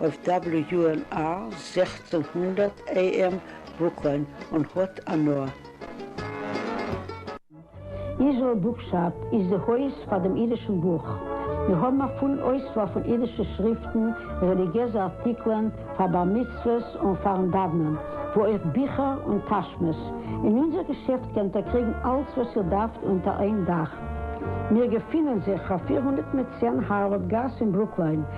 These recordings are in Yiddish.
אויף WNR זעכצן הונדערט AM וואוקאן און האט אנא. איזראעל בוקשאפ איז די הויז פאר דעם אידישן בוך. מיר האבן א פולן אויסוואל פון אידישע שריפטן, רעליגיעזע ארטיקלען פאר בר מצוות און פאר'ן דאוונען, וואו אויך ביכער און טאשמעס. אין אונזער געשעפט קענט איר קריגן אלץ וואס איר דארפט אונטער איין דאך. מיר געפינען זיך אויף פֿיר הונדערט צען הארווארד גאס אין ברוקליין.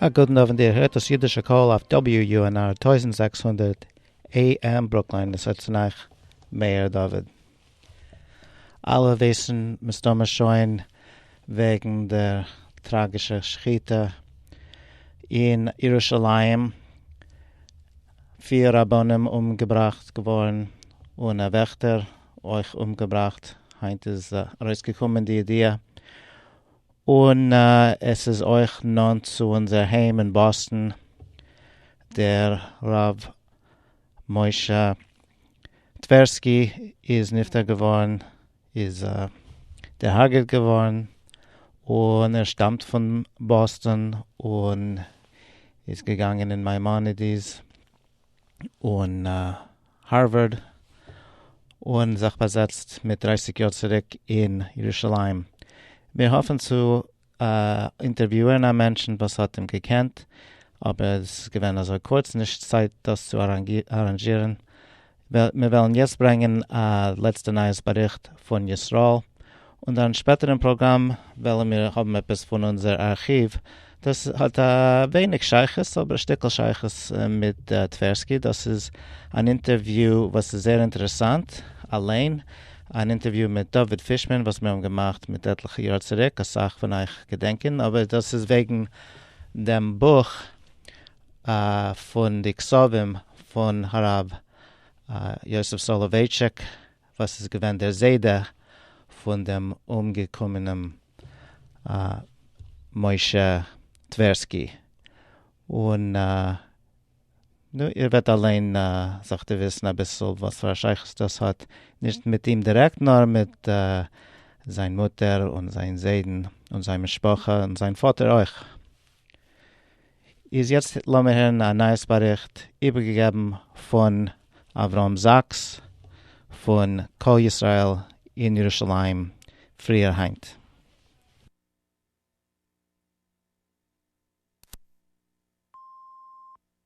א גוטן אווענט, איר הערט דאס אידישע קול אויף WUNR טויזנט זעקס הונדערט AM ברוקלין, עס רעדט צו אייך מאיר דוד. אלע וויסן מסתמא שוין וועגן דער טראגישע שחיטה אין ירושלים, פיר רבנים אומגעבראכט געווארן און א וועכטער אויך אומגעבראכט, היינט איז ארויסגעקומען די ידיעה, און עס איז אויך נאנט צו אונזער היים אין באסטן, דער ר' משה טווערסקי איז נפטר געווארן, איז דערהארגעט געווארן, און ער שטאמט פון באסטן און איז געגאנגען אין מיימאנעדיס. און הארווארד און זיך באזעצט מיט דרייסיג יאר צוריק אין ירושלים. מיר האפן צו אינטערוויוען א מענטשן וואס האט אים געקענט, אבער עס איז געווען אזוי קורץ נישט צייט דאס צו אראנדזשירן. מיר וועלן יעצט ברענגען א לעצטע נייעס באריכט פון ישראל. און דאן שפעטער אין פראגראם וועלן מיר האבן עפעס פון אונזער ארכיוו, דאס האט א ווייניג שייכות אבער א שטיקל שייכות מיט טווערסקי, דאס איז אן אינטערוויו וואס איז זייער אינטערעסאנט אליין, אן אינטערוויו מיט דוד פישמאן וואס מיר האבן געמאכט מיט עטליכע יאר צוריק, אסאך פון אייך געדענקען, אבער דאס איז וועגן דעם בוך פון די כספים פון הרב יוסף סולובייטשיק. וואס איז געווען דער זיידע פון דעם אומגעקומענעם משה טווערסקי, און נו, איר וועט אליין זיך דערוויסן אביסל וואס פאר א שייכות דאס האט, נישט מיט אים דירעקט, נאר מיט זיין מוטער און זיין זיידן און זיין משפחה און זיין פאטער אויך. איז יעצט לאמיר הערן א נייעס באריכט איבערגעגעבן פון אברהם זאקס פון קול ישראל אין ירושלים פריער היינט.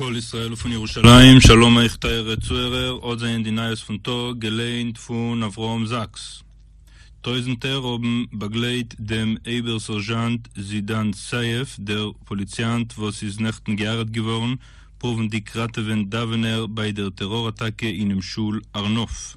קול ישראל פון ירושלים, שלום אייך טייערע צוהערער, האט זענען די נייעס פון טאג געליינט פון אברהם זאקס. טויזענטער האבן באגלייט דעם אבער סערזשאנט זידאן סייף דער פאליציאנט וואס איז נעכטן גע'הרג'ט געווארן פרואוונדיג ראטעווען דאווענער ביי דער טעראר אטאקע אינעם שול הר נוף.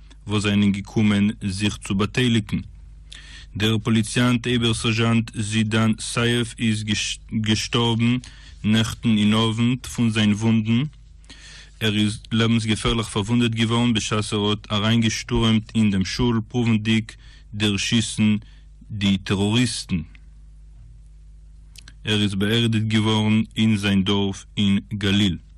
וואס זענען געקומען זיך צו באטייליגן. דער פאליציאנט אייבערסערזשאנט זידאן סייף איז געשטארבן נעכטן אין אוונט פון זיין וואונדן. ער איז לעבנסגעפערליך פארוואונדעט געווארן בשעת ער האט אריינגעשטורעמט אין דעם שול פרואוונדיג דערשיסן די טעראריסטן. ער איז באערדיגט געווארן אין זיין דארף אין גליל.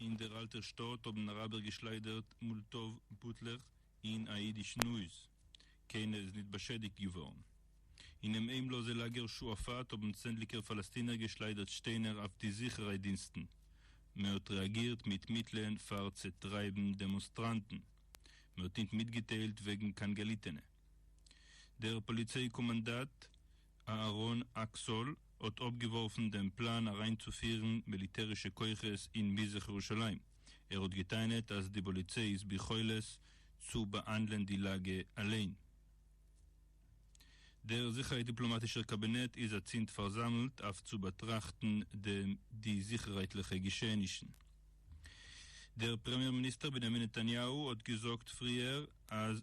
אין דער אַלטער שטאָט האָבן אַראַבער געשלײַדערט מאָלטאָוו בוטלעך אין אַ ייִדישן הויז. קיינער איז ניט באַשעדיקט געוואָרן. אינעם איימלאָזע לאַגער שועפֿאַט האָבן צענדליקער פֿאַלעסטינער געשלײַדערט שטיינער אויף די זיכערהייט-דינסטן. מע האָט רעאַגירט מיט מיטלען פֿאַר צעטרײַבן דעמאָנסטראַנטן. מע האָט ניט מיטגעטיילט וועגן קיין געליטענע. דער פּאָליציי-קאָמאַנדאַט אהרן אקסול האט אפגעווארפן דעם פלאן אריינצופירן מיליטערישע כוחות אין מזרח ירושלים, ער האט גע'טענה'ט אז די פאליציי איז ביכולת צו באהאנדלען די לאגע אליין. דער זיכערהייט דיפלאמאטישער קאבינעט איז אצינד פארזאמלט אויף צו באטראכטן די זיכערהייטליכע געשעענישן. דער פרעמיער מיניסטער בנימין נתניהו האט געזאגט פריער אז.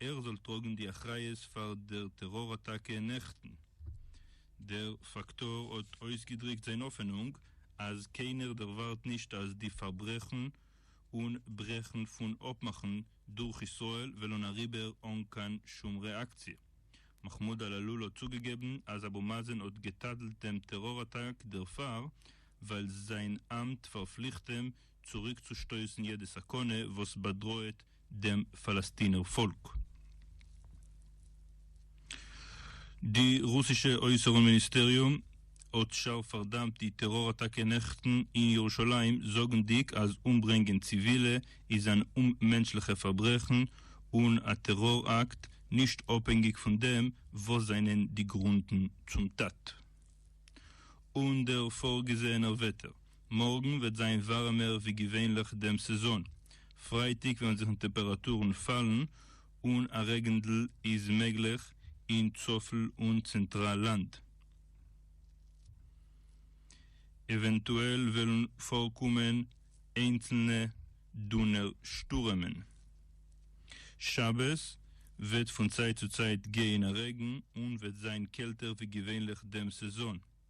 ער זאל טראגן די אחריות פאר דער טעראר אטאקע נעכטן. דער פאקטאר האט אויסגעדריקט זיין האפענונג אז קיינער דערווארט נישט אז די פארברעכן און ברעכן פון אפמאכן דורך ישראל וועלן אריבער אן קיין שום רעאקציע. מחמוד על אלול האט צוגעגעבן אז אבו מאזן האט גע'טאדל'ט דעם טעראר אטאק דערפאר ווייל זיין אמט פארפליכט אים צוריקצושטויסן יעדע סכנה וואס באדראעט דעם פאלעסטינער פאלק. די רוסישע אויסערן מיניסטעריום האט שארף פארדאמט די טעראר אטאקע נעכטן אין ירושלים, זאגנדיג אז אומברענגען ציווילע איז אן אוממענטשליכע פארברעכן און א טעראר אקט, נישט אפהענגיג פון דעם וואס זענען די גרונדן צום טאט און דער פארגעזעענער וועטער. מארגן וועט זיין ווארעמער ווי געווענליך דעם סעזאן, פרייטאג וועלן זיך די טעפעראטורן פאלן און א רעגענדל איז מעגליך אין צפל און צענטראל לאנד. עווענטועל וועלן פארקומען איינצלנע דונער שטורעמען. שבת וועט פון צייט צו צייט גיין א רעגן און וועט זיין קעלטער ווי געווענליך דעם סעזאן.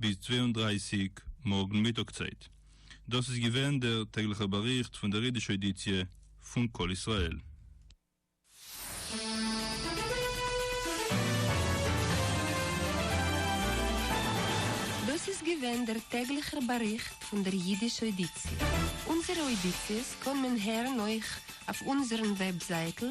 ביז צוויי און דרײַסיק מארגן מיטאג צייט. דאס איז געווען דער טעגליכער באריכט פון דער אידישע אודיציע פון קול ישראל. דאס איז געווען דער טעגליכער באריכט פון דער אידישע אודיציע. אונזערע אודיציעס קען מען הערן אויך אויף אונזערן וועבזייטל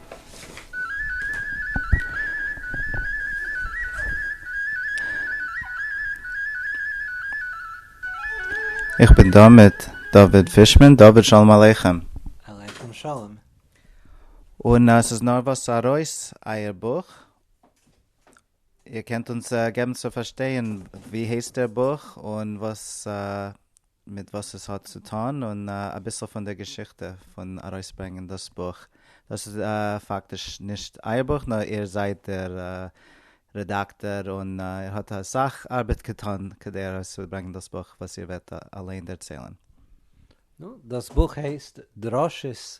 איך בין דא מיט דוד פישמאן. דוד, שלום עליכם. עליכם שלום. און עס איז נארוואס ארויס אייער בוך. איר קענט אונז געבן צו פארשטיין ווי הייסט דער בוך און וואס מיט וואס עס האט צו טון און אביסל פון דער געשיכטע פון ארויסברענגען דאס בוך. דאס איז פאקטיש נישט אייער בוך נאר איר זייט דער רעדאקטאר און איר האט אסאך ארבעט געטון כדי ארויסצוברענגען דאס בוך וואס איר וועט אליין דערציילן. נו, דאס בוך הייסט דרשות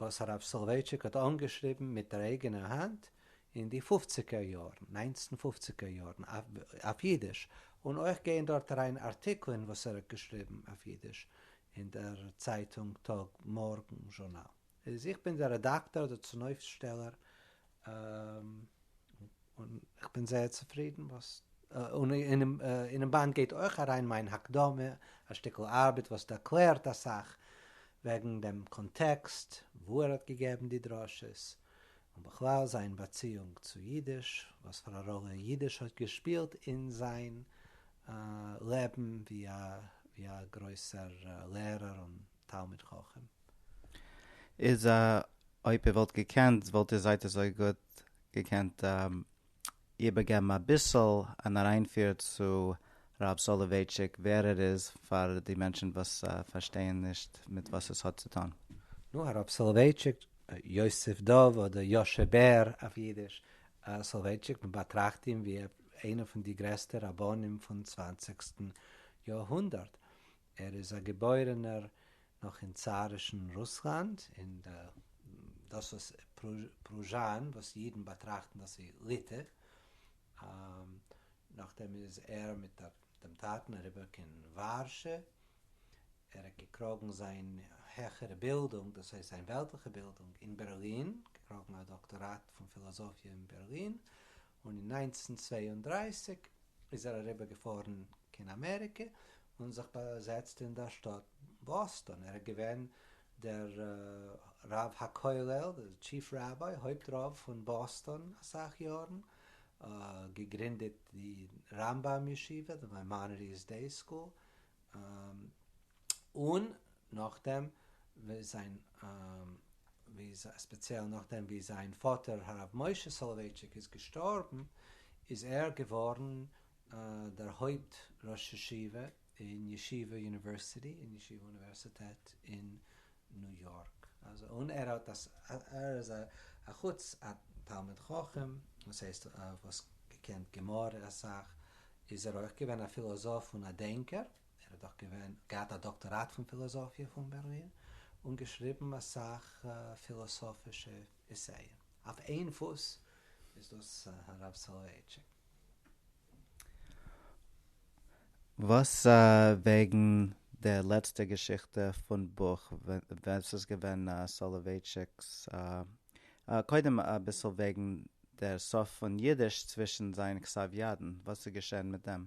וואס הרב סולווייטשיק האט אנגעשריבן מיט דער אייגענע האנט אין די פופציגער יארן, ניינצן פופציגער יארן, אויף אידיש, און אויך גייען דארט אריין ארטיקלען וואס ער האט געשריבן אויף אידיש אין דער צייטונג טאג מארגן זשורנאל. איז איך בין דער רעדאקטאר אדער צונויפסטשטעלער און איך בין זייער צופרידן וואס און אינעם באנד גייט אויך אריין מיין הקדמה, א שטיקל ארבעט וואס ערקלערט אסאך וועגן דעם קאנטעקסט וואו ער האט געגעבן די דרשות, און בכלל זיין באציאונג צו אידיש, וואספארא ראלע אידיש האט געשפילט אין זיין לעבן ווי א גרויסער לערער און תלמיד חכם איז א אויב איר וואלט געקענט וואלט איר זייט אזוי גוט געקענט איבערגעבן אביסל אן אריינפיר צו ר' סאלאווייטשיק ווער ער איז פאר די מענטשן וואס פארשטייען נישט מיט וואס עס האט צו טון. נו הרב סאלאווייטשיק, יוסף דוב אדער יושע בער אויף אידיש, סאלאווייטשיק מען באטראכט אים ווי איינע פון די גרעסטע רבנים פון צוואנציגסטן יאר הונדערט, ער איז א געבוירענער נאך אין צארישן רוסלאנד, אין דאס וואס פרוזשאן, וואס אידן באטראכטן דאס ווי ליטע, נאכדעם איז ער מיט דעם טאטן אריבער קיין ווארשע, ער האט געקראגן זיין העכערע בילדונג, דאס הייסט זיין וועלטליכע בילדונג, אין בערלין, געקראגן א דאקטאראט פון פילאזאפיע אין בערלין, און אין נײַנצן צוויי און דרײַסיק איז ער אריבער געפארן קיין אמעריקע און זיך באזעצט אין דער שטאט באסטאן, ער איז געווען דער רב הכולל, דער טשיף ראביי, הויפט רב פון באסטאן אסאך יארן, געגרינדעט די רמב ם ישיבה, די מיימאנעדיס דעי סקול, און נאכדעם ווי זיין ווי ספעציעל נאכדעם ווי זיין פאטער הרב משה סאלאווייטשיק איז געשטארבן איז ער געווארן דער הויפט ראש ישיבה אין ישיבה יוניווערסיטי אין ישיבה אוניווערסיטעט אין ניו יארק און ער האט ער איז אחוץ א תלמיד חכם וואס הייסט וואס געקענט גמרא אסאך איז ער אויך געווען א פילאזאף און א דענקער. ער האט דאך געווען געהאט א דאקטאראט פון פילאזאפיע פון בערלין, און געשריבן אסאך פילאסאפישע עסייען. אויף איין פוס איז דאס הרב סאלאווייטשיק. וואס וועגן די לעצטע געשיכטע פון בוך, ווער ס'איז געווען סאלאווייטשיק'ס קודם אביסל וועגן דער סוף פון אידיש צווישן זיין כסף ידן, וואס איז געשען מיט דעם?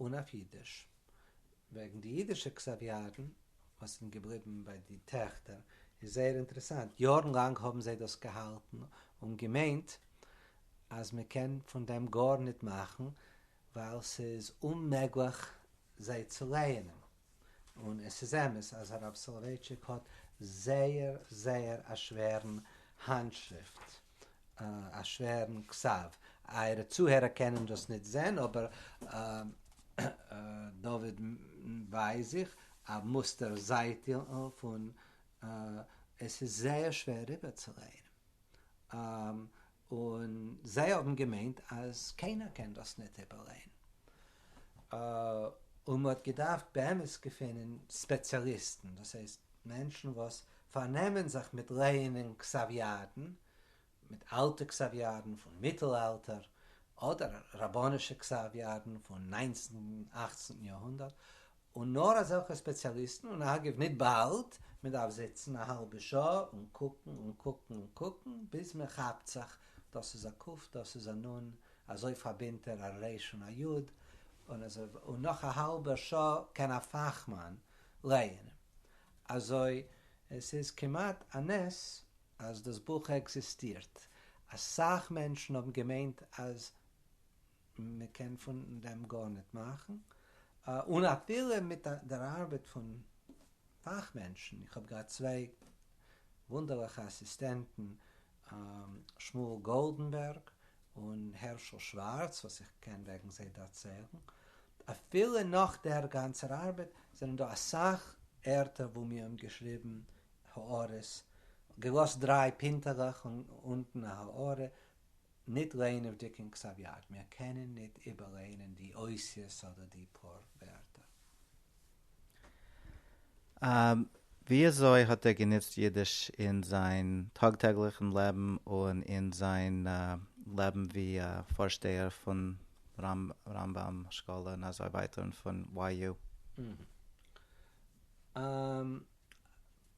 און אויף אידיש. וועגן די אידישע קסאוויארן וואס זענען געבליבן ביי די טעכטער איז זייער אינטערעסאנט, יארן לאנג האבן זיי דאס געהאלטן און געמיינט אז מען קען פון דעם גארניט מאכן ווייל ס'איז אוממעגליך זיי צו לייענען. און עס איז אמת אז הרב סאלאווייטשיק האט זייער זייער א שווערן האנטשריפט, א שווערן כתב, אייערע צוהערער קענען דאס ניט זען, אבער דוד ווייז איך א מוסטער זייטל פון עס איז זייער שווער איבערצוליינען. און זיי האבן געמיינט אז קיינער קען דאס ניט איבערלייען, און מען האט געדארפט באמת געפינען ספעציאליסטן, דאס הייסט מענטשן וואס פארנעמען זיך מיט לייענען כסאוויאדן, מיט אלטע כסאוויאדן פון מיטל אלטער, אדער רבנישע כסאוויאדן פון ניינצנטן און אכצנטן יאר הונדערט, און נאר אזעלכע ספעציאליסטן, און אגב ניט באלד, מען דארף זיצן א האלבע שעה און קוקן און קוקן און קוקן ביז מען כאפט זיך, דאס איז א ק, דאס איז א נ, אזוי פארבינדט ער א ר' און א י, און אזוי ווייטער, און נאך א האלבע שעה קען א פאכמאן לייענען. אזוי עס איז כמעט א נס אז דאס בוך עקזיסטירט, אסאך מענטשן האבן געמיינט אז מען קען פון דעם גארניט מאכן, און אפילו מיט דער ארבעט פון פאכמענטשן, איך האב געהאט צוויי וואונדערליכע אסיסטענטן, שמואל גאלדענבערג און הערשל שווארץ, וואס איך קען וועגן זיי דערציילן, אפילו נאך דער גאנצער ארבעט, זענען דא אסאך ערטער וואו מיר האבן געשריבן הערות, געלאזט דריי פינטעלעך און אונטן א הערה, ניט לענוועדיק אין כתב יד, מיר קענען ניט איבערלערנען די אותיות אדער די פאר ווערטער. וויאזוי האט ער גענוצט אידיש אין זיין טאג-טעגליכן לעבן און אין זיין לעבן ווי פארשטייער פון רמב ם שכול און אזוי ווייטער און פון YU?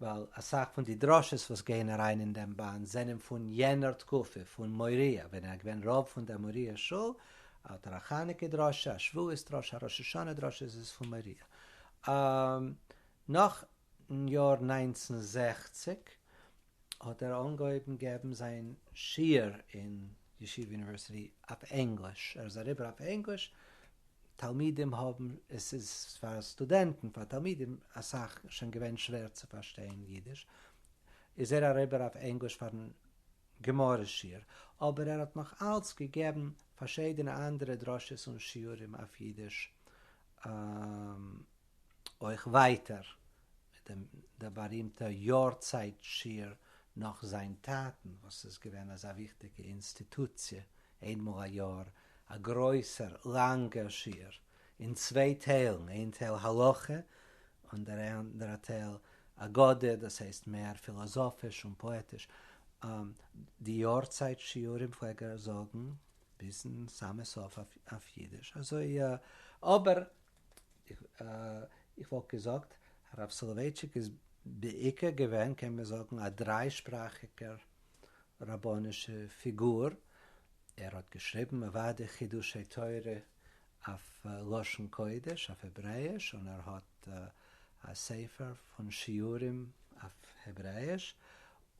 ווייל אסאך פון די דרשות וואס גייען אריין אין דעם באנד זענען פון יענער תקופה, פון מוהריא, ווען ער איז געווען רב פון דער מוהריא שול, האט ער א חנוכה דרשה, א שבועות דרשה, א ראש השנה דרשה, איז עס פון מוהריא. נאך אין יאר נײַנצן זעכציק האט ער אנגעהויבן געבן זיין שיעור אין ישיבה יוניווערסיטי אויף ענגליש, ער איז אריבער אויף ענגליש, תלמידים האבן, עס איז פאר סטודענטן, פאר תלמידים אסאך שוין געווען שווער צו פארשטיין אידיש, איז ער אריבער אויף ענגליש פארן גמרא שיעור, אבער ער האט נאך אלץ געגעבן פארשידענע אנדערע דרשות און שיעורים אויף אידיש, אויך ווייטער מיט דעם דער בארימטער יארצייט שיר נאך זיין טאטן וואס איז געווען אזא וויכטיגע אינסטיטוציע, איינמאל א יאר א גרויסער לאנגער שיר אין צוויי טיילן, איין טייל הלכה און דער אנדערע טייל אגדה, דאס הייסט מער פילאזאפיש און פאעטיש. די יארצייט שיעורים פלעג ער זאגן ביזן סאמע סוף אויף אידיש, אזוי אבער איך וואלט געזאגט הרב סולובייטשיק איז בעיקר געווען קען מען זאגן א דריי שפראכיגער רבנישע פיגור, ער האט געשריבן אוודאי חידושי תורה אויף לשון קודש אויף העברעאיש און ער האט א ספר פון שיעורים אויף העברעאיש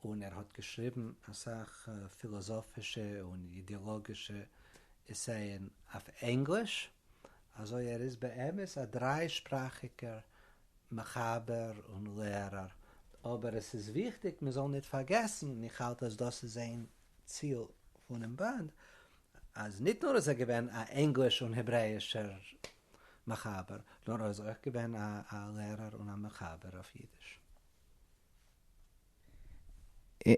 און ער האט געשריבן אסאך פילאזאפישע און אידילאגישע עסייען אויף ענגליש. אזוי ער איז באמת א דריי שפראכיגער מחבר און לערער, אבער עס איז וויכטיג מען זאל ניט פארגעסן, און איך האלט אז דאס איז איין ציל פונעם באנד, אז ניט נאר איז ער געווען א ענגליש און העברעאישער מחבר, נאר ער איז אויך געווען א לערער און א מחבר אויף אידיש.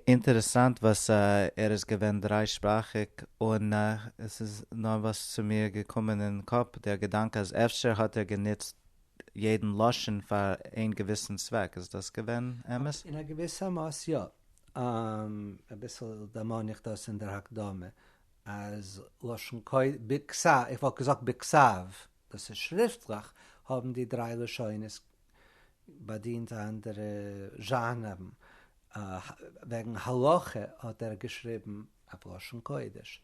אינטערעסאנט וואס ער איז געווען דריי שפראכיג און עס איז נארוואס צו מיר געקומען אין קאפ דער געדאנק אז אפשר האט ער גענוצט יעדן לשון פאר איין געוויסן צוועק, איז דאס געווען אמת? אין א געוויסע מאס יא. אביסל דערמאן איך דאס אין דער הקדמה אז לשון קודש, ביקסאוו, איך וואלט געזאגט ביקסאוו. דאס איז שריפטליך האבן די דריי לשונות באדינט אנדערע זשאנערן, וועגן הלכה האט ער געשריבן אויף לשון קודש,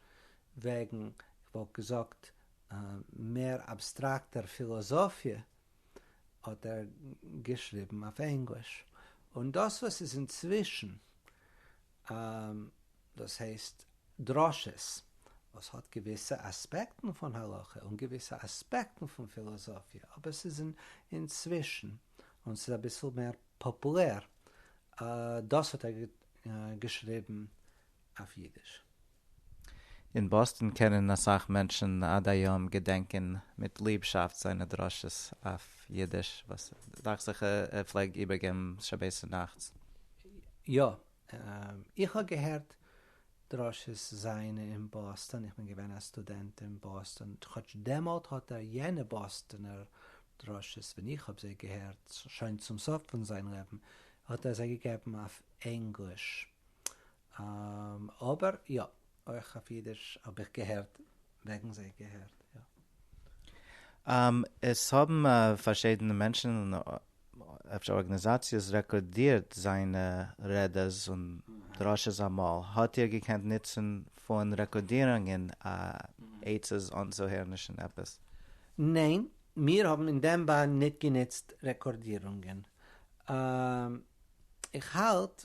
וועגן כ'וואלט געזאגט מער אבסטראקטער פילאזאפיע האט ער געשריבן אויף ענגליש, און דאס וואס איז אינצווישן און דאס הייסט דרשות וואס האט געוויסע אספעקטן פון הלכה און געוויסע אספעקטן פון פילאזאפיע אבער ס'איז אינצווישן און ס'איז אביסל מער פאפולער דאס האט ער געשריבן אויף אידיש. אין באסטאן קענען אסאך מענטשן עד היום געדענקען מיט ליבשאפט זיינע דרשות אויף אידיש וואס דאכט זיך ער פלעג איבערגעבן שבת נאכטס. יא, איך האב געהערט דרשות זיינע אין באסטאן, איך בין געווען א סטודענט אין באסטאן, כאטש דעמאלט האט ער יענע באסטאנער דרשות ווען איך האב זיי געהערט שוין צום סוף פון זיין לעבן האט ער זיי געגעבן אויף ענגליש, אבער יא, אויך אויף אידיש האב איך געהערט וועגן זיי געהערט, יא. עס האבן פארשידענע מענטשן און אפשר ארגאניזאציעס רעקארדירט זיינע רעדעס און דרשות אמאל, האט איר געקענט נוצן פון רעקארדירונגען עצות אנצוהערנישן עפעס? ניין, מיר האבן אין דעם באן ניט גענוצט רעקארדירונגען. איך האלט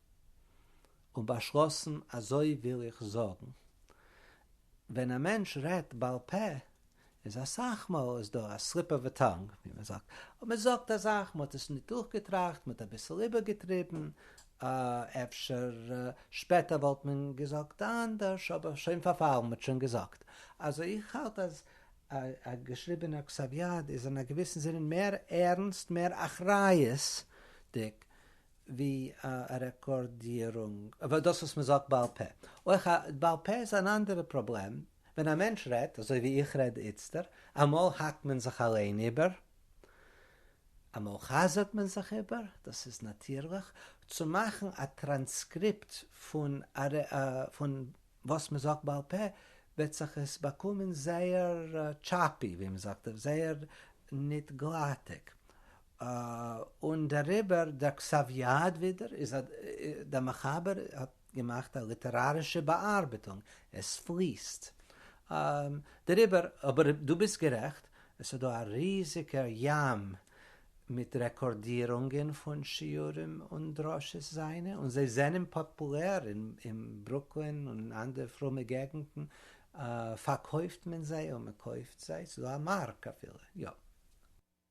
און באשלאסן אזוי וויל איך זאגן. ווען א מענטש רעדט בעל פה איז אסאך מאל איז דא א סליפ אוו ע טאנג ווי מען זאגט, מען זאגט א זאך מען האט עס נישט דורכגעטראכט מען האט אביסל איבערגעטריבן, אפשר שפעטער וואלט מען געזאגט אנדערש אבער שוין פארפאלן מען האט שוין געזאגט. אלזא איך האלט אז א געשריבענער כתב יד איז אין א געוויסן זין מער ערנסט מער אחריות'דיג ווי א רעקארדירונג אבער דאס וואס מ'זאגט בעל פה אויך א בעל פה איז אן אנדערע פראבלעם ווען א מענטש רעדט אזוי ווי איך רעד איצטער אמאל האקט מען זיך אליין איבער אמאל חזר'ט מען זיך איבער דאס איז נאטירליך צו מאכן א טראנסקריפט פון פון וואס מ'זאגט בעל פה וועט זיך עס באקומען זייער טשאפי ווי מ'זאגט זייער ניט גלאטיג און דעריבער דער כסף יד ווידער איז א דער מחבר האט געמאכט א ליטערארישע באארבעטונג, עס פליסט דעריבער, אבער דו ביסט גערעכט עס איז דא א ריזיגער ים מיט רעקארדירונגען פון שיעורים און דרשות זיינע און זיי זענען פאפולער אין ברוקלין און אנדערע פרומע געגנטן פארקויפט מען זיי און מען קויפט זיי, ס'איז דא א מארק אפילו, יא.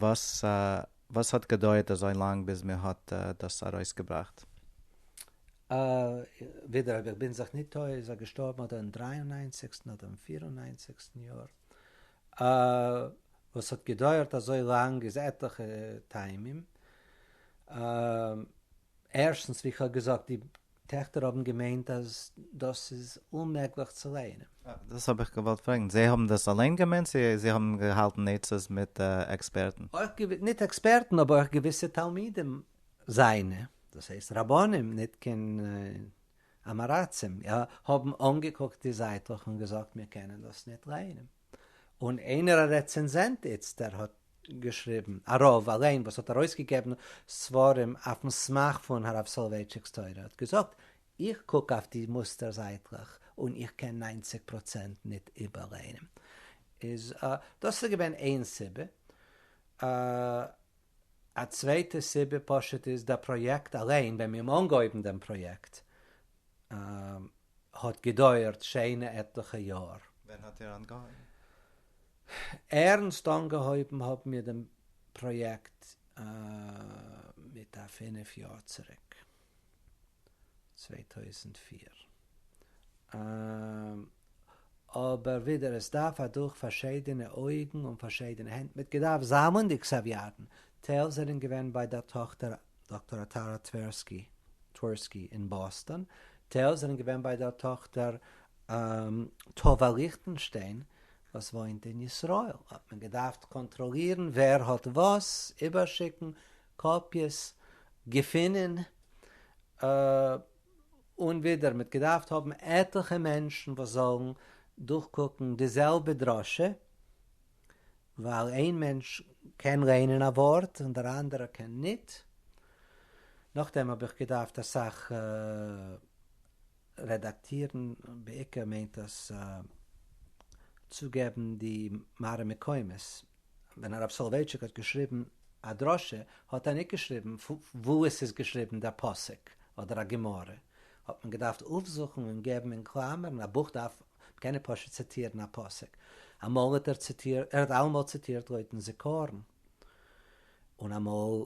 וואס האט געדויערט אזוי לאנג ביז מען האט דאס ארויסגעבראכט? ווידער אויב איך בין זיך ניט טועה איז ער געשטארבן אדער אין דרײַ און נײַנציקסטן אדער אין פֿיר און נײַנציקסטן יאר. וואס האט געדויערט אזוי לאנג איז עטליכע טעמים. ערשטנס ווי איך האב געזאגט די טעכטער האבן געמיינט אז דאס איז אוממעגליך צו לייענען. דאס האב איך געוואלט פרעגן, זיי האבן דאס אליין געמיינט צו זיי האבן געהאלטן עצות מיט עקספערטן? אויך געוויסע, ניט עקספערטן, אבער אויך געוויסע תלמידים זיינע, דאס הייסט רבנים, ניט קיין אמעראצים, יא, האבן אנגעקוקט די זייטלעך און געזאגט מיר קענען דאס ניט לייענען. און איינער א רעצענזענט איצטער האט געשריבן, א רב אליין וואס האט ארויסגעגעבן ספרים אויפן סמך פון הרב סאלאווייטשיק'ס תורה האט געזאגט, איך קוק אויף די מוסטער זייטלעך און איך קען ניינציג פראצענט ניט איבערליינען. איז דאס איז געווען איין סיבה. א צווייטע סיבה פשוט איז דער פראיעקט אליין, ווען מיר האבן אנגעהויבן דעם פראיעקט, האט געדויערט שיינע עטליכע יאר. ווען האט איר אנגעהויבן? ערנסט אנגעהויבן האבן מיר דעם פראיעקט מיט א פינף יאר צוריק, צוויי טויזנט פֿיר. אבער ווידער עס דארף אדורך פארשיידענע אויגן און פארשיידענע הענט מיט געדארפט זאמלן די כסאוויאטן, טייל זענען געווען ביי דער טאכטער דאקטאר אטארא טווערסקי Twerski אין באסטאן, טייל זענען געווען ביי דער טאכטער טובה ליכטענשטיין וואס וואוינט אין ישראל, האט מען געדארפט קאנטראלירן ווער האט וואס, איבערשיקן קאפיעס, געפינען. און ווידער מ'האט געדארפט האבן עטליכע מענטשן וואס זאלן דורכקוקן די זעלבע דרשה, ווייל איין מענטש קען לערנען א ווארט און דער אנדערער קען ניט, נאכדעם האב איך געדארפט אסאך רעדאקטירן, בעיקר מיינט דאס צוגעבן די מראה מקומות, ווען הרב סולובייטשיק האט געשריבן א דרשה האט ער ניט געשריבן וואו עס איז געשריבן דער פסוק אדער א גמרא, האט מען געדארפט אויפזוכן און געבן אין קלאמערן, א בוך דארף קענען פשוט ציטירן א פסוק, אמאל האט ער ציטירט, ער האט אלעמאל ציטירט לויטן זיכרון, און אמאל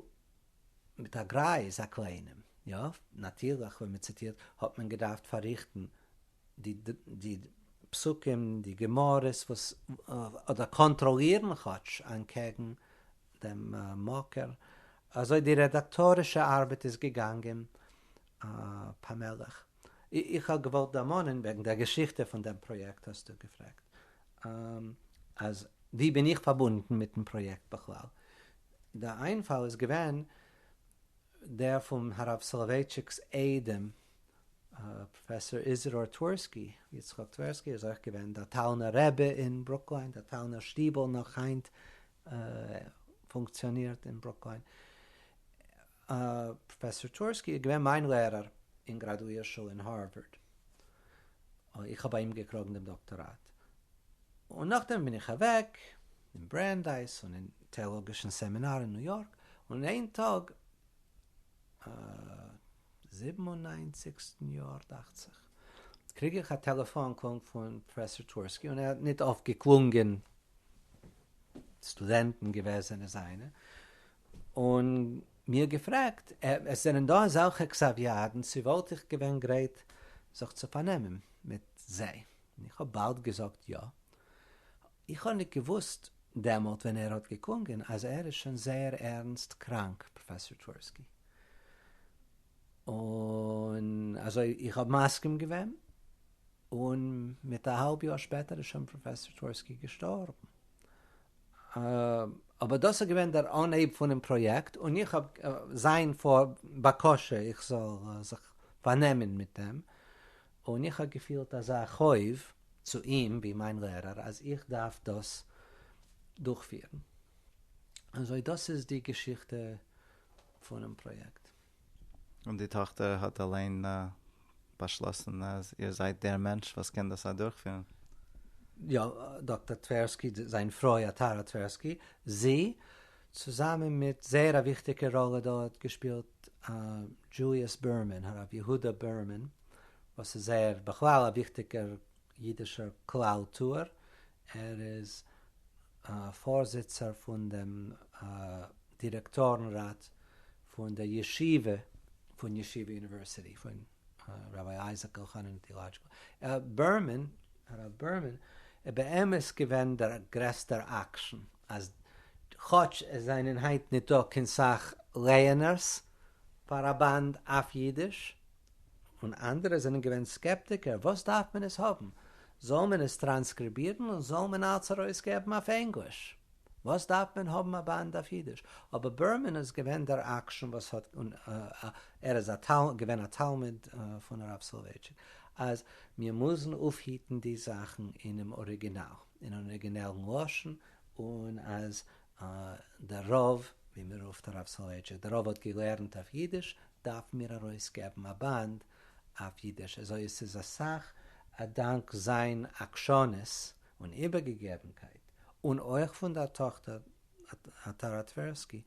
מיט א גרייז א קליינעם, יא, נאטירליך ווען מען ציטירט האט מען געדארפט פארריכטן די פסוקים די גמרות וואס אדער קאנטראלירן כאטש אנטקעגן דעם מקור אזוי די רעדאקטארישע ארבעט איז געגאנגען פאמעליך. איך האב געוואלט דערמאנען וועגן דער געשיכטע פון דעם פראיעקט האסטו געפרעגט אז ווי בין איך פארבונדן מיטן פראיעקט בכלל. דער איינפאל איז געווען דער פון הרב סאלאווייטשיק'ס איידעם פרופסור איזידאר טווערסקי, יצחק טווערסקי, איז אויך געווען דער טאלנער רבי אין ברוקלין, דער טאלנער שטיבל נאך היינט פונקציאנירט אין ברוקלין. פרופסור טווערסקי איז געווען מיין לערער אין גראדואיר שול אין הארווארד. איך האב ביי אים געקראגן דעם דאקטאראט. און נאכדעם בין איך אוועק אין ברענדייס און אין טעאלאגישן סעמינאר אין ניו יארק, און איין טאג, א זיבן און נײַנציקסטן יאר דאכט זיך, קריג איך א טעלעפאן קאל פון פראפעסאר טווערסקי, און ער האט ניט אויף געקלונגען, סטודענטן געוועזענע זיינע, און מיר געפרעגט, עס זענען דא אזעלכע קסאוויאדן, צו וואלט איך געווען גרייט זיך צו פארנעמען מיט זיי, און איך האב באלד געזאגט יא, איך האב ניט געוואוסט דעמאלט ווען ער האט געקונגען אז ער איז שוין זייער ערנסט קראנק, פראפעסאר טווערסקי, און אזוי איך האב מסכים געווען, און מיט א האלב יאר שפעטער איז שוין פראפעסאר טווערסקי געשטארבן. אבער דאס איז געווען דער אנהייב פונעם פראיעקט, און איך האב, זיין בקשה איך זאל זיך פארנעמען מיט דעם, און איך האב געפילט אזא חוב צו אים ווי מיין לערער אז איך דארף דאס דורכפירן. אזוי דאס איז די געשיכטע פונעם פראיעקט. און די טאכטער האט אליין באשלאסן אז איר זייט דער מענטש וואס קען דאס אדורכפירן? יא, דאקטער טווערסקי, זיין פרוי אטארא טווערסקי, זי, צוזאמען מיט זייער א וויכטיגע ראלע דארט געשפילט דזשוליאס בערמאן, הרב יהודה בערמאן, וואס איז ער? בכלל א וויכטיגער אידישער כלל טוער, ער איז פארזיצער פון דעם דירעקטארן ראט פון דער ישיבה פון ישיבה אוניווערסיטי פון רבי אייזיק אלחנן טיולאדזשיקל בערמאן, הרב בערמאן, איז באמת געווען דער גרעסטער אקשן אז כאטש עס זענען היינט ניט דא קיין סאך לייענערס פאר א באנד אויף אידיש, און אנדערע זענען געווען סקעפטיקער, וואס דארף מען עס האבן? זאל מען עס טראנסקריבירן און זאל מען אלץ ארויסגעבן אויף ענגליש. וואס דארף מען האבן א באנד אויף אידיש? אבער בערמאן איז געווען דער אקשן וואס האט ער איז געווען א תלמיד פון הרב סולובייטשיק אז מיר מוזן אויפהיטן די זאכן אינעם אריגינאל, אין אן אריגינעלן לשון, און אז דער רב, ווי מען רופט הרב סולובייטשיק, דער רב האט געלערנט אויף אידיש, דארפן מיר ארויסגעבן א באנד אויף אידיש. אזוי עס איז אסאך א דאנק זיין עקשנות און איבערגעגעבנקייט, און אויך פון דער טאכטער טארא טווערסקי,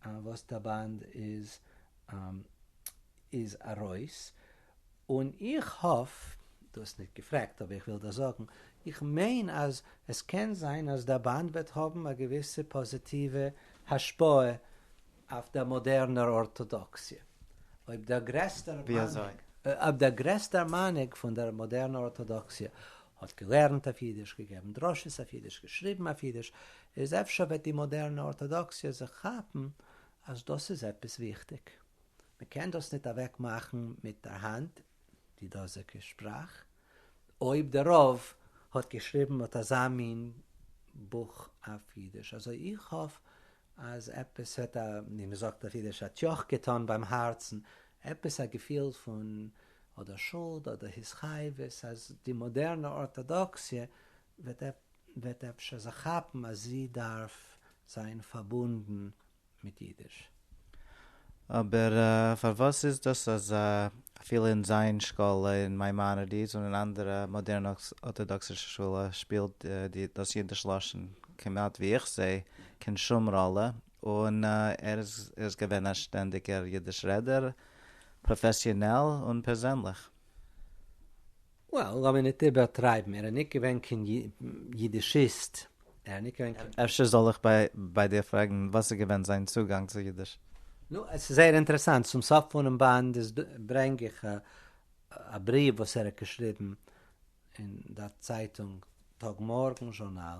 וואס דער באנד איז איז ארויס, און איך האף, דו האסט ניט געפרעגט אבער איך וויל דיר זאגן, איך מיין אז עס קען זיין אז דער באנד וועט האבן א געוויסע פאזיטיווע השפעה אויף דער מאדערנער ארטאדאקסיע, אויב דער גרעסטער מנהיג פון דער מאדערנער ארטאדאקסיע האט געלערנט אויף אידיש, געגעבן דרשות אויף אידיש, געשריבן אויף אידיש, איז אפשר וועט די מאדערנע ארטאדאקסיע זיך כאפן אז דאס איז עפעס וויכטיג. מען קען דאס ניט אוועק מאכן מיט דער האנט, די דאזיגע שפראך, אויב דער רב האט געשריבן אט אזא מין בוך אויף אידיש. אזוי איך האף אז עפעס וועט א, ווי מען זאגט אויף אידיש, א טיוח געטאן ביים הארצן, עפעס א געפיל פון אדער שולד אדער התחייבות אז די מאדערנע ארטאדאקסיע וועט אפשר זיך כאפן אז זי דארף זיין פארבונדן מיט אידיש. אבער פארוואס איז דאס אז אפילו אין זיין שקאלע אין מיימאנעדיס און אין אנדערע מאדערנע ארטאדאקסישע שולע שפילט דאס אידיש לשון כמעט ווי איך זעה קיין שום ראלע און ער איז געווען א שטענדיגער אידיש רעדער, פראפעסיאנעל און פערזענליך. Well, לאמיר ניט איבערטרייבן, ער איז ניט געווען קיין יידישיסט, ער איז ניט געווען קיין. אפשר זאל איך ביי דיר פרעגן וואס איז געווען זיין צוגאנג צו אידיש? נו, עס איז זייער אינטערעסאנט, צום סוף פונעם באנד איז דא, ברענג איך א בריוו וואס ער האט געשריבן אין דער צייטונג טאג מארגן זשורנאל.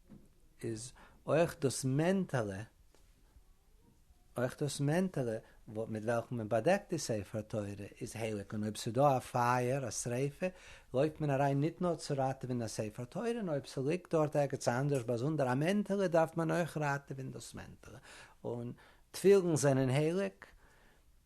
איז אויך דאס מענטעלע, אויך דאס מענטעלע מיט וועלכן מען באדעקט די ספר תורה איז הייליג און אויב ס'דא א פייער, א שריפה, לויפט מען אריין ניט נאר צו ראטעווען דער ספר תורה, נאר אויב ס'ליגט דארט ערגעץ אנדערש באזונדער א מענטעלע דארף מען אויך ראטעווען דאס מענטעלע. און תפילין זענען הייליג.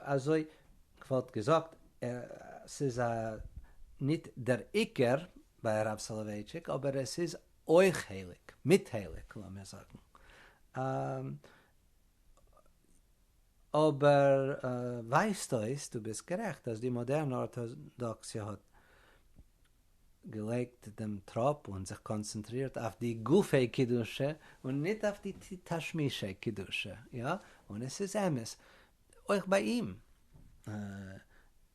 אזוי כוואלט געזאגט סאיז א ניט דער עיקר ביי הרב סאלאווייטשיק אבער עס איז אויך חלק מיט חלק לאמיר זאגן אבער ווייזט אויס דו ביסט גערעכט אז די מאדערן ארטאדאקסיע האט געלייגט דעם טראפ און זיך קאנצענטרירט אויף די גופי קדושה און ניט אויף די תשמישי קדושה, יא, און עס איז אמת אויך ביי אים,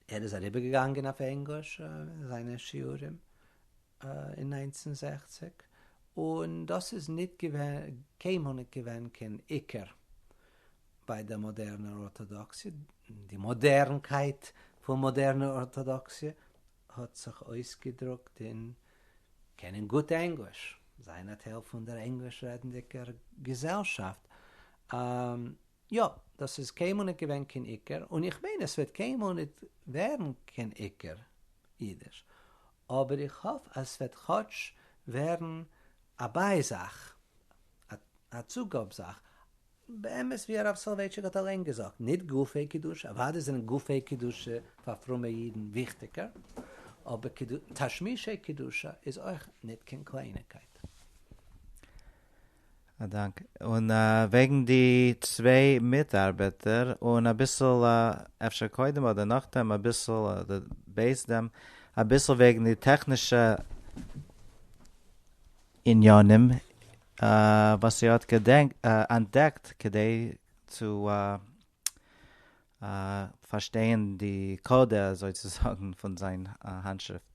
ער איז אריבערגעגאנגען אויף ענגליש זיינע שיעורים אין נײַנצן זעכציק, און דאס איז ניט געווען, קיינמאל ניט געווען קיין עיקר ביי דער מאדערנער ארטאדאקסיע, די מאדערנקייט פון מאדערנער ארטאדאקסיע האט זיך אויסגעדרוקט אין קענען גוט ענגליש, זיין א טייל פון דער ענגליש רעדנדיגער געזעלשאפט, יא, דאס איז קיינמאל ניט געווען קיין עיקר, און איך מיין עס וועט קיינמאל ניט ווערן קיין עיקר אידיש, אבער איך האף אז ס'וועט כאטש ווערן א ביי-זאך, א צוגאב-זאך, באמת ווי הרב סאלווייטשיק האט אליין געזאגט, ניט גופי קדושה, אוודאי זענען גופי קדושה פאר פרומע אידן וויכטיגער, אבער תשמישי קדושה איז אויך ניט קיין קלייניקייט. א דאנק. און וועגן די צוויי מיטארבעטער, און אביסל אפשר קודם אדער נאכדעם אביסל אדער בעת דעם אביסל וועגן די טעכנישע. עניינים וואס ער האט אנטדעקט כדי צו פארשטייען די קאדע אזוי צו זאגן פון זיין האנטשריפט.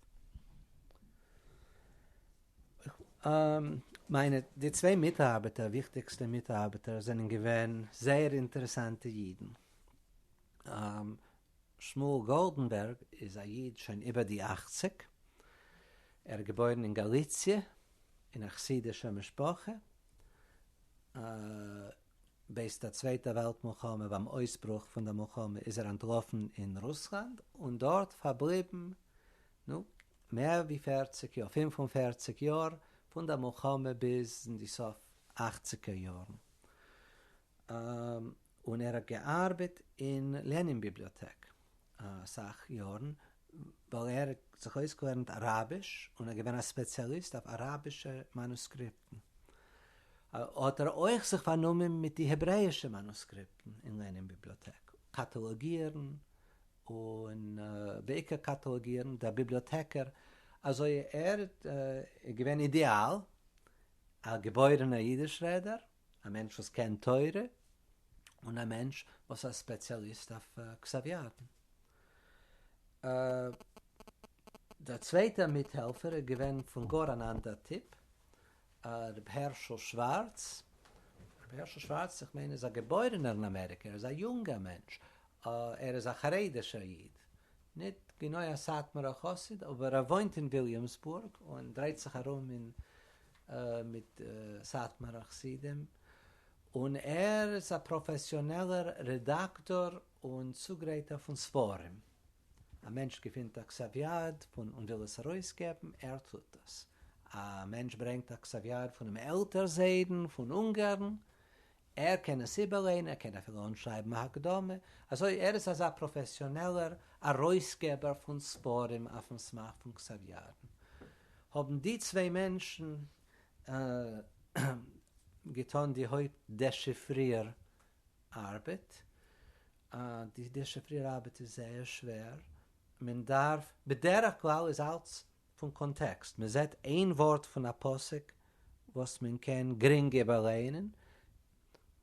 מיינע די צוויי מיטארבעטער וויכטיגסטע מיטארבעטער זענען געווען זייער אינטערעסאנטע אידן. שמואל גאלדענבערג איז א איד שוין איבער די אַכציק, ער איז געבוירן אין גאליציע אין א חסידישער משפחה, בעת דער צווייטער וועלט מלחמה, ביים אויסברוך פון דער מלחמה איז ער אנטלאפן אין רוסלאנד און דארט פארבליבן נו מער ווי פערציג יאר, פֿינף און פֿערציק יאר, פון דער מלחמה ביז אין די סוף אַכציקער יארן. און ער האט געארבעט אין לענין ביבליאטעק אסאך יארן ווייל ער האט זיך אויסגעלערנט אראביש און געווען א ספעציאליסט אויף אראבישע מאנוסקריפטן. האט ער אויך זיך פארנומען מיט די העברעישע מאנוסקריפטן אין לענין ביבליאטעק, קאטאלאגירן און בעיקר קאטאלאגירן, דער ביבליאטעקער אזוי ער איז געווען אידיאל א געבוירענער אידיש רעדער, א מענטש וואס קען תורה, און א מענטש וואס א ספעציאליסט אויף כסף ידן. דער צווייטער מיטהעלפער איז געווען פון גאר אן אנדער טיפ, ר' הערשל שווארץ, ר' הערשל שווארץ איך מיין איז א געבוירענער אין אמעריקא, ער איז א יונגער מענטש, ער איז א חרדישער איד, ניט גענוי א סאטמארער חסיד, אבער ער וואוינט אין וויליאמסבורג און דרייט זיך ארום אין מיט סאטמארע חסידים, און ער איז א פראפעסיאנעלער רעדאקטאר און צוגרייטער פון ספרים. א מענטש געפינט א כסף יד פון און וויל עס ארויסגעבן, ער טוט דאס. א מענטש ברענגט א כסף יד פונעם עלטער זיידן פון אונגארן, ער קען עס איבערליינען, ער קען אפילו אנשרייבן א הקדמה, אזוי ער איז אזא פראפעסיאנעלער ארויסגעבער פון ספרים אויפן סמך פון כסף ירדן, האבן די צוויי מענטשן געטון די הויפט דעשיפריר ארבעט, די דעשיפריר ארבעט איז זייער שווער, מען דארף, בדרך כלל איז אלץ פון קאנטעקסט, מען זעט איין ווארט פון א פסוק וואס מען קען גרינג איבערלערנען,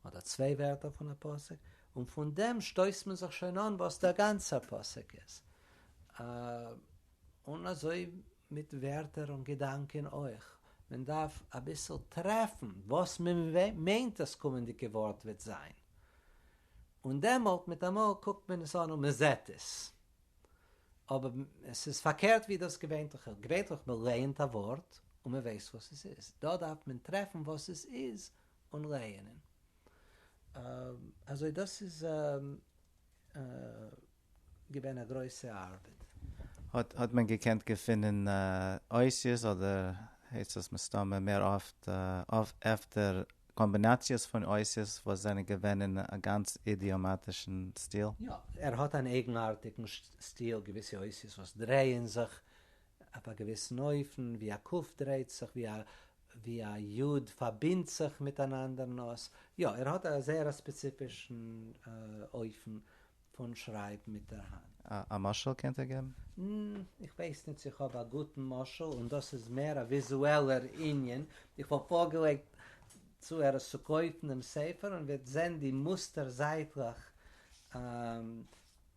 אדער צוויי ווערטער פון א פסוק, און פון דעם שטויסט מען זיך שוין אן וואס דער גאנצער פסוק איז. און אזוי מיט ווערטער און געדאנקען אויך, מען דארף אביסל טרעפן וואס מען מיינט דאס קומענדיגע ווארט וועט זיין, און דעמאלט מיטאמאל קוקט מען עס אן און מען זעט עס, אבער עס איז פארקערט ווי דאס געווענטליכע, געווענטליך מען לייענט א ווארט און מען ווייסט וואס עס איז, דא דארף מען טרעפן וואס עס איז און לייענען. אזוי דאס איז געווען א גרויסע ארבעט. האט האט מען געקענט געפינען אותיות אדער עצות מסתמא מער אפט אפטער קאמבינאציעס פון אותיות וואס זענען געווען אין א גאנץ אידיאמאטישן סטיל. יא, ער האט אן אייגנארטיגן סטיל, געוויסע אותיות וואס דרייען זיך אויף א געוויסן אופן, ווי א ק' דרייט זיך, ווי א ווי א י' פארבינדט זיך מיט אן אנדערן אות. יא, ער האט א זייער א ספעציפישן אופן פון שרייבן מיט דער האנט. א משל קענט איר געבן? איך ווייס ניט צי איך האב א גוטן משל, און דאס איז מער א וויזועלער ענין. איך וואלט פארגעלייגט צו ער עס צו קויפן דעם ספר און וועט זען די מוסטער זייטלעך,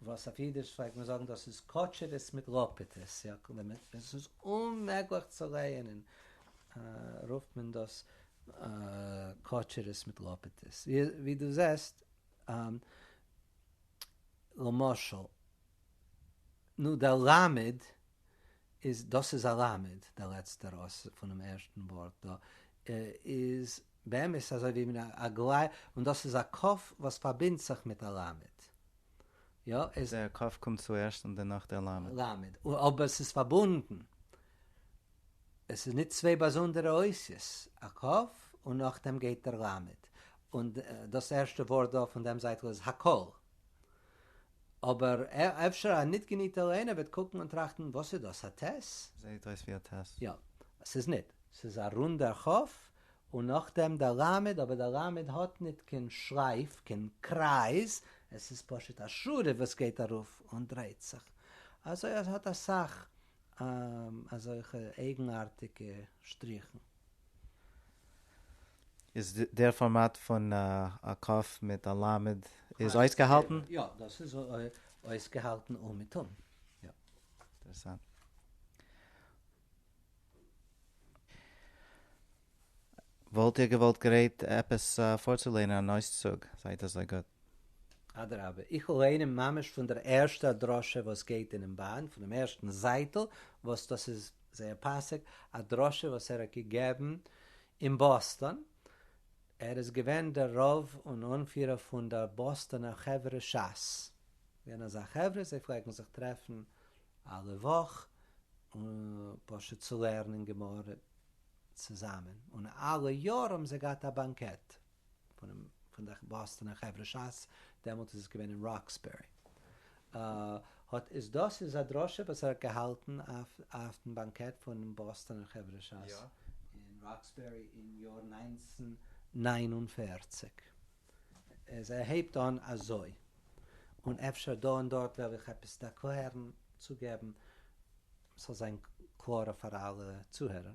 וואס אויף אידיש פלעגט מען זאגן דאס איז קאטשערעס מיט לאפעטעס, עס איז אוממעגליך צו לייענען, רופט מען דאס קאטשערעס מיט לאפעטעס, ווי דו זעסט. למשל, נו דער למד איז, דאס איז א למד, דער לעצטער אות פונעם ערשטן ווארט דא, איז באמת אזוי ווי מין א גלייך, און דאס איז א ק' וואס פארבינדט זיך מיט א למד. יא, עס. דער ק' קומט צוערשט און דערנאך דער למד. למד, אבער עס איז פארבונדן. עס איז נישט צוויי באזונדערע אותיות, א ק' און נאכדעם גייט דער למד. און דאס ערשטע ווארט דא פון דעם זייטל איז הכל. אבער אפשר א ניט געניטער ליינער וועט קוקן און טראכטן, וואס איז דאס, א ט'? זעהט אויס ווי א ט'. יא. ס'איז ניט. ס'איז א רונדער כ', און נאכדעם דער ל', אבער דער ל' האט ניט קיין שרייף, קיין קרייז, עס איז פשוט א שורה וואס גייט ארויף און דרייט זיך. אזוי אז ס'האט אסאך אזעלכע אייגנארטיגע שטריכן. איז דער פארמאט פון א קאף מיט א למד איז אויסגעהאלטן? יא, דאס איז אויסגעהאלטן אומעטום. אינטערעסאנט. וואלט איר געוואלט גרייט עפעס פארצולערנען אן אויסצוג? זייט אזוי גוט. אדרבה, איך וועל ליינען ממש פון דער ערשטער דרשה וואס גייט אינעם באנד, פונעם ערשטן זייטל, וואס דאס איז זייער פאסיג, א דרשה וואס ער האט געגעבן אין באסטאן, ער איז געווען דער רב און אנפירער פון דער באסטאנער חברה שס, געווען אזא חברה זיי פלעגן זיך טרעפן אלע וואך און פשוט צו לערנען גמרא צוזאמען, און אלע יאר האבן זיי געהאט א באנקעט. פון די באסטאנער חברה שס, דעמאלט איז עס געווען אין ראקסבערי, האט איז דאס איז א דרשה וואס ער האט געהאלטן אויפן באנקעט פונעם באסטאנער חברה שס אין ראקסבערי אין יאר נײַנצן נײַן און פֿערציק, איז ער הייבט אן אזוי, און אפשר דא און דארט וועל איך עפעס דערקלערן, צוגעבן, ס'זאל זיין קלארער פאר אלע צוהערער,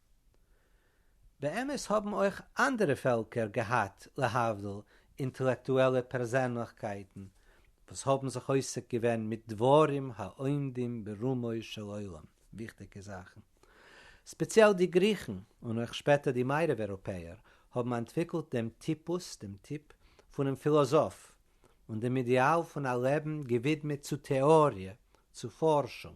באמת האבן אויך אנדערע פעלקער געהאט להבדיל אינטעלעקטועלע פערזענליכקייטן וואס האבן זיך עוסק געווען מיט דברים העומדים ברומו של עולם, וויכטיגע זאכן. ספעציעל די גריכן און אויך שפעטער די מערב אירופעער האבן אנטוויקלט דעם טיפוס, דעם טיפ, פונעם פילאזאף, און דעם אידעאל פון א לעבן געווידמעט צו טעאריע, צו פארשונג.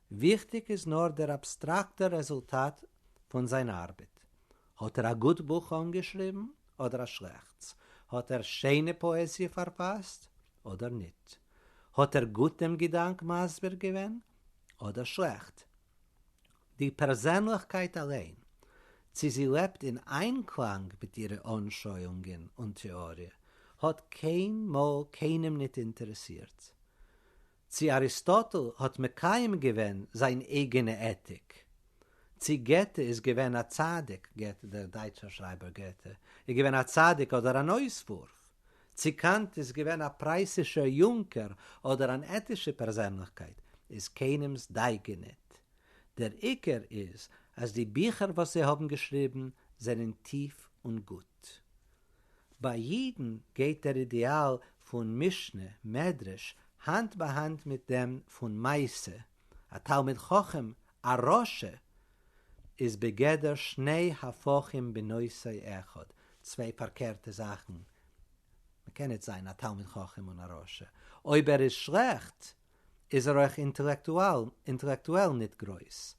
וויכטיג איז נאר דער אבסטראקטער רעזולטאט פון זיין ארבעט. האט ער א גוט בוך אנגעשריבן אדער א שלעכטס? האט ער שיינע פאעזיע פארפאסט אדער ניט? האט ער גוט דעם געדאנק מסביר געווען אדער שלעכט? די פערזענליכקייט אליין, צי זי לעבט אין איינקלאנג מיט אירע אנשויאונגען און טעאריע, האט קיינמאל קיינעם ניט אינטערעסירט. צי אריסטאטל האט מקיים געווען זיין אייגענע עטיק? צי געטע איז געווען א צדיק, געטע דער דייטשער שרייבער געטע, איז געווען א צדיק אדער אן אויסוואורף? צי קאנט איז געווען א פרייסישער יונקער אדער אן עטישע פערזענליכקייט איז קיינעמס דייגע ניט. דער עיקר איז אז די ביכער וואס זיי האבן געשריבן זענען טיף און גוט. ביי אידן גייט דער אידעאל פון משנה, מדרש, האנט ביי האנט מיט דעם פון מעשה, א תלמיד חכם, א רשע, איז בגדר שני הפכים בנושא אחד, צוויי פארקערטע זאכן, מ'קען ניט זיין א תלמיד חכם און א רשע, אויב ער איז שלעכט, איז ער אויך אינטעלעקטועל ניט גרויס.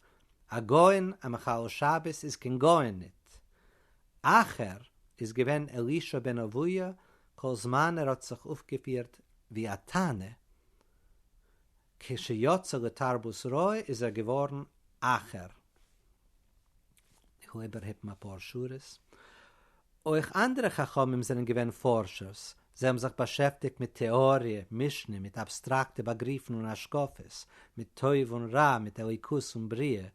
אַ גאון, אַ מחלל שבת איז קיין גאון ניט. אַחר איז געווען אלישע בן אביה כל זמן ער האָט זיך אויפגעפירט ווי אַ תנא. כשיצא לתרבות רעה איז ער געוואָרן אַחר. איך וויל איבערהיפן אפאר שורות. אויך אנדערע חכמים זענען געווען פארשערס, זיי האבן זיך באשעפטיגט מיט טעאריע, משנה, מיט אבסטראקטע באגריפן און השקפות, מיט טוב און רע, מיט אלוקות און בריאה,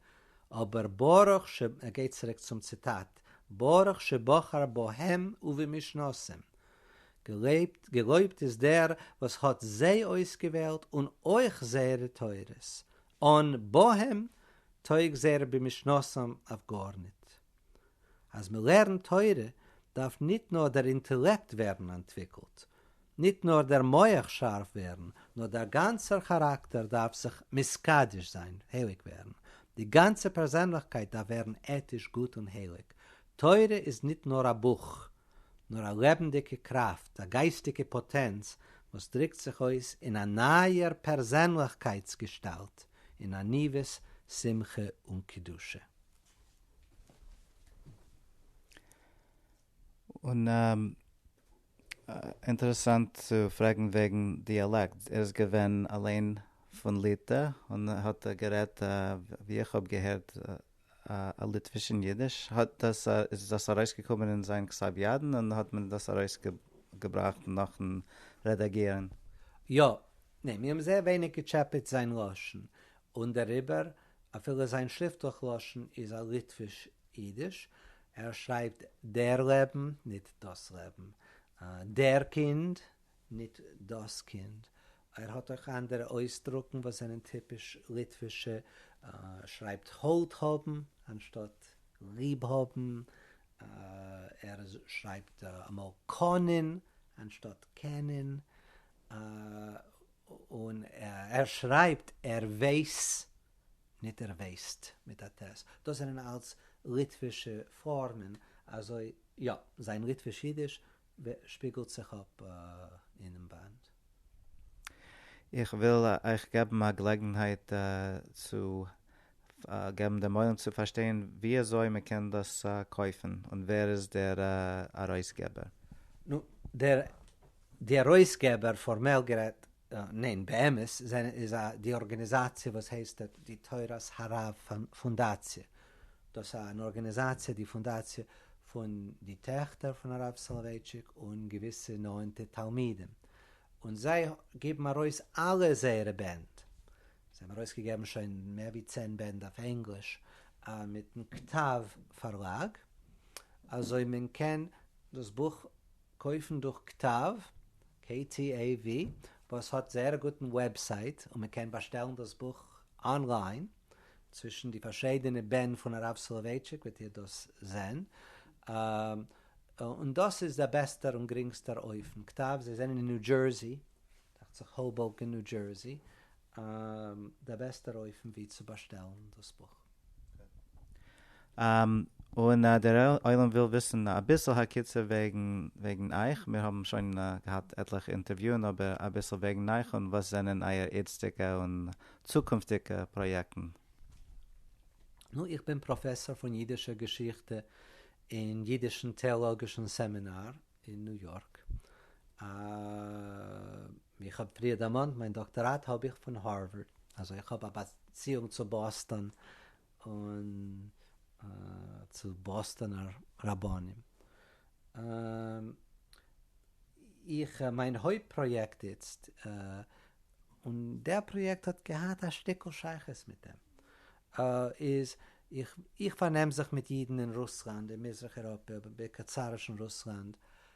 אבער ברוך ש, ער גייט צוריק צום ציטאט, ברוך שבחר בהם ובמשנתם, געלויבט, געלויבט איז דער וואס האט זיי אויסגעוועלט און אויך זייערע תורות, אן בהם טויג זייער רבי משנתם אויף גארניט. אז מ'לערנט תורה דארף ניט נאר דער אינטעלעקט ווערן אנטוויקלט, ניט נאר דער מוח שארף ווערן, נאר דער גאנצער כאראקטער דארף זיך מתקדש זיין, הייליג ווערן. די גאנצע פערזענליכקייט דארף ווערן עטיש גוט און הייליג. תורה איז ניט נאר א בוך, נאר א לעבנדיגע קראפט, א גייסטיגע פאטענץ וואס דריקט זיך אויס אין א נייער פערזענליכקייטס געשטאלט, אין עניוות, שמחה און קדושה. און אינטערעסאנט צו פרעגן וועגן דיאלעקט, ער איז געווען אליין פון ליטע און האט גערעדט ווי איך האב געהערט א ליטווישן יידיש, האט דאס איז דאס ארויסגעקומען אין זיין כסב ידן און האט מען דאס ארויסגעבראכט נאכן רעדאגירן. יא. ניין, מיר האבן זייער ווייניג געטשעפעט זיין לשון, און דעריבער, אפילו זיין שריפטליך לשון איז א ליטוויש יידיש, ער שרייבט דער לעבן, ניט דאס לעבן, דער קינד, ניט דאס קינד, ער האט אויך אנדערע אויסדרוקן וואס זענען טיפיש ליטווישע, שרייבט האלט האבן אנשטאט ליב האבן, ער שרייבט אמאל קאנען אנשטאט קענען, און ער שרייבט ער ווייס ניט ער ווייסט מיט א ט', דאס זענען אלץ ליטווישע פארמען, אזוי יא, זיין ליטוויש-אידיש ווער שפיגלט זיך אפ אינעם וואנט? איך וויל אייך געבן א געלעגנהייט צו געבן דעם עולם צו פארשטיין ווי אזוי מען קען דאס קויפן און ווער איז דער ארויסגעבער. נו, דער די ארויסגעבער פארמעל גערעדט, ניין באמת, איז די ארגעניזאציע וואס הייסט די תורת הרב פאנדאציע, דאס איז אן ארגאניזאציע די פונדאציע פון די טעכטער פון הרב סאלאווייטשיק און געוויסע נאענטע תלמידים און זיי געבן ארויס אלע זייערע בענד, זיי האבן ארויס געגעבן שוין מער ווי צען בענד אויף ענגליש מיטן כתב פארלאג אזוי מען קען דאס בוך קויפן דורך כתב, KTAV, וואס האט זייער א גוטן וועבסייט און מען קען באשטעלן דאס בוך אנליין. צווישן די פארשיידענע בענד פון הרב סולובייטשיק וועט איר דאס זען, און דאס איז דער בעסטער און גרינגסטער אופן כתב, זיי זענען אין ניו דזשערסי, דאכט זיך האובאוקען ניו דזשערסי, דער בעסטער אופן ווי צו באשטעלן דאס בוך. און דער עולם וויל וויסן אביסל הקיצור וועגן אייך, מיר האבן שוין געהאט עטליכע אינטערוויוען אבער אביסל וועגן אייך און וואס זענען אייער איצטיגע און צוקונפטיגע פראיעקטן. נו, איך בין פראפעסאר פון אידישער געשיכטע אין אידישן טעאלאגישן סעמינאר אין ניו יארק. ווי איך האב פריער דערמאנט, מיין דאקטאראט האב איך פון הארווארד, אזוי איך האב א באציאונג צו באסטאן. און צו באסטאנער רבנים. איך מיין הויפט פראיעקט איצט, און דער פראיעקט האט געהאט א שטיקל שייכות מיט דעם, איז איך פארנעם זיך מיט אידן אין רוסלאנד, אין מזרח אירופה, בעיקר צארישן רוסלאנד,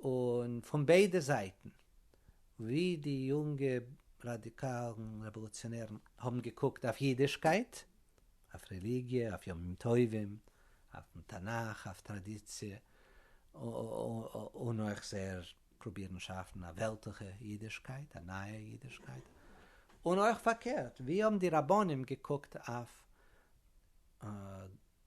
און פון ביידע זייטן, ווי די יונגע ראדיקאלן רעוואלוציאנערן האבן געקוקט אויף אידישקייט, אויף רעליגיע, אויף ימים טובים, אויפן תנך, אויף טראדיציע, און אויך זייער פרובירן שאפן א וועלטליכע אידישקייט, א נייע אידישקייט, און אויך פארקערט, ווי האבן די רבנים געקוקט אויף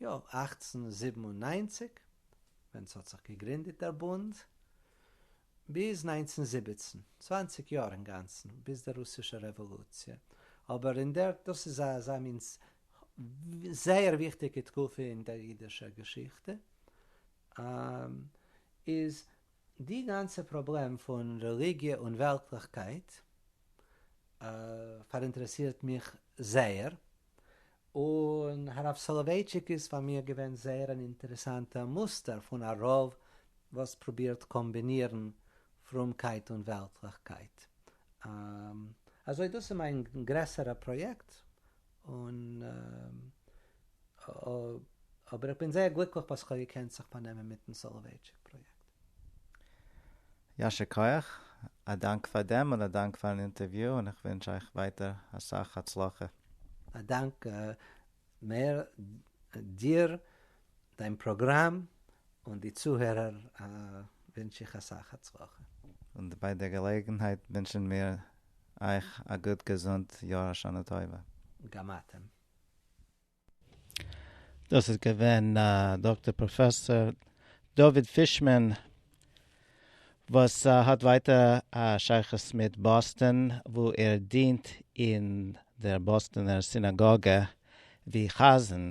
יאָר אַכצן זיבן און נײַנציק, ווען ס'האָט זיך געגרינדעט דער בונד, ביז נײַנצן זיבעצן, צוואַנציק יאָר אין גאַנצן, ביז דער רוסישער רעוואָלוציע. אָבער אין דער, דאָס איז אַזאַ מין זייער וויכטיקע תקופה אין דער יידישער געשיכטע, איז די גאַנצע פּראָבלעם פון רעליגיע און וועלטלעכקייט פאַראינטערעסירט מיך זייער, און הרב סאלאווייטשיק איז פאר מיר געווען זייער אן אינטערעסאנטע מוסטער פון א רב וואס פרובירט קאמבינירן פרומקייט און וועלטליכקייט. אזוי דאס איז מיין גרעסערע פראיעקט, אבער איך בין זייער גליקליך וואס כ'האב געקענט זיך באנעמען מיטן סאלאווייטשיק פראיעקט. יישר כח, א דאנק פאר דעם און א דאנק פארן אינטערוויו און איך ווינטש אייך ווייטער אסאך הצלחה. א דאנק מאיר, דיר, דיין פראגראם, און די צוהערער ווינטש איך אסאך הצלחה. און ביי די געלעגנהייט ווינטשן מיר אייך א גוט געזונט יאר א שנה טובה. גם אתם. דאס איז געווען דאקטער פראפעסאר דוד פישמאן וואס האט ווייטער א שייכות מיט באסטאן וואו ער דינט אין דער באסטאנער סינאגאגע ווי חזן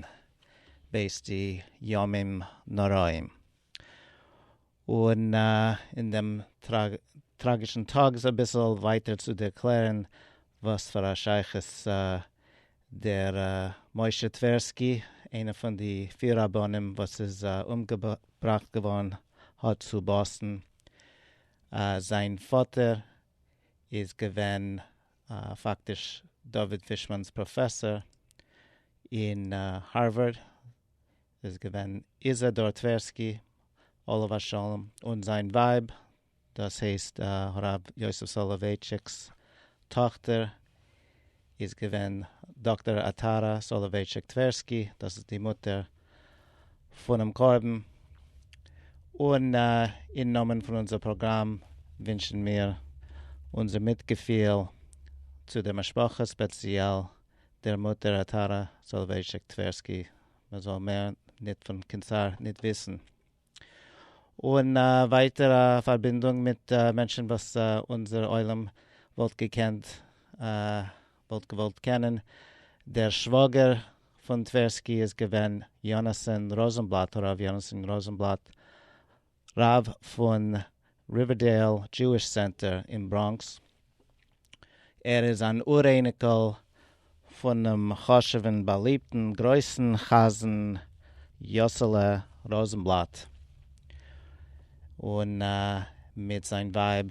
בעת די ימים נוראים און אין דעם טראגישן טאג אביסל ווייטער צו ערקלערן וואס פאר א שייכות דער משה טווערסקי, איינער פון די פיר רבנים וואס איז אומגעבראכט געווארן האט צו באסטן. זיין פאטער איז געווען פאקטיש דוד פישמאן'ס פראפעסאר אין הארווארד, איז געווען איזעדאר טווערסקי עליו השלום, און זיין ווייב דאס הייסט הרב יוסף סאלאווייטשיק'ס טאכטער איז געווען דאקטער עטרה סאלאווייטשיק טווערסקי, דאס איז די מוטער פונעם קרבן, און אין נאמען פון אונזער פראגראם ווינטשן מיר אונזער מיטגעפיהל צו דער משפחה, ספעציעל דער מוטער עטרה סאלאווייטשיק טווערסקי, מען זאל מער ניט פון קענסאר ניט וויסן. און ווייטער א פארבינדונג מיט מענטשן וואס אונזער עולם וואלט געקענט וואלט געוואלט קענען, דער שוואגער פון טווערסקי איז געווען יונתן ראזענבלאט הרב יונתן ראזענבלאט רב פון ריווערדעיל דזשואיש סענטער אין בראנקס, ער איז אן אור-אייניקל פונעם חשוב'ן, באליבטן, גרויסן חזן יאסעלע ראזנבלאט, און מיט זיין ווייב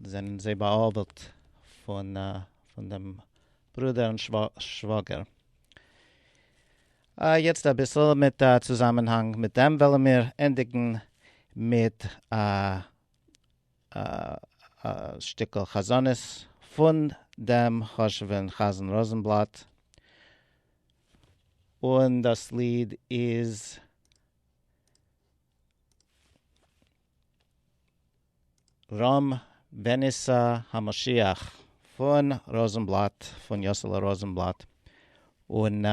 זענען זיי בא'עוול'ט פון דעם ברודער און שוואגער. יעצט אביסל מיט א צוזאמענהאנג מיט דעם וועלן מיר ענדיגן מיט א. א שטיקל חזנות פון דעם חשוב'ן חזן ראזענבלאט, און דאס ליד איז רמ בנישא המשיח פון ראזענבלאט, פון יאסעלע ראזענבלאט, און.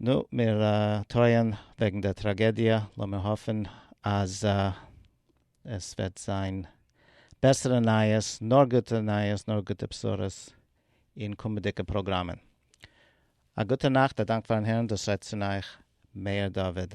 נו, מיר טרויען וועגן דער טראגעדיע, לאמיר האפן אז עס וועט זיין בעסערע נייעס, נאר גוטע נייעס, נאר גוטע בשורות אין קומענדיגע פראגראמען. א גוטע נאכט, א דאנק פארן הערן, דאס רעדט צון אייך מאיר דוד.